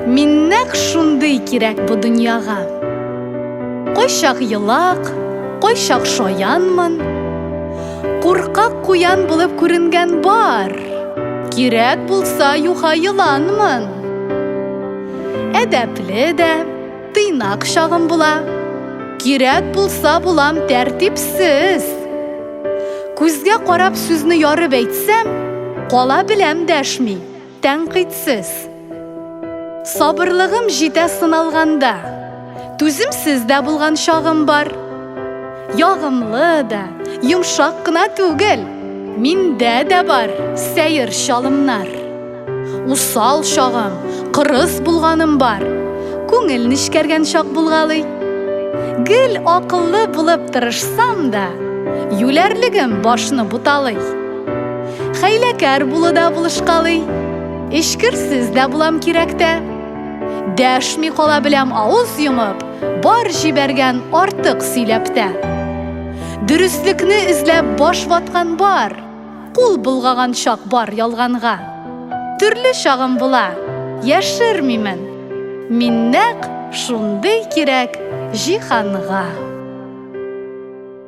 Мин нәкъ шундый кирәк бу дөньяга. Кайчак елак, кайчак шаянмын. Куркак куян булып күренгән бар. Кирәк булса юха еланмын. Әдәпле дә, тыйнак чагым була. Кирәк булса булам тәртипсез. Күзгә карап сүзне ярып әйтсәм, кала беләм дәшми. Тәнкыйтьсез. Сабырлыгым җитә сыналганда, түземсез дә булган чагым бар. Ягымлы да, йомшак кына түгел, миндә дә бар сәер чалымнар. Усал чагым, кырыс булганым бар, күңел нечкәргән чак булгалый. Гел акыллы булып тырышсам да, юләрлегем башны буталый. Хәйләкәр булу да булышкалый. Эчкерсез дә булам кирәктә. Дәшми кала беләм авыз йомып, бар җибәргән артык сөйләптә. Дөреслекне эзләп баш ваткан бар, кул булгаган чак бар ялганга. Төрле чагым була, яшермимен. Мин нәкъ шундый кирәк җиһанга.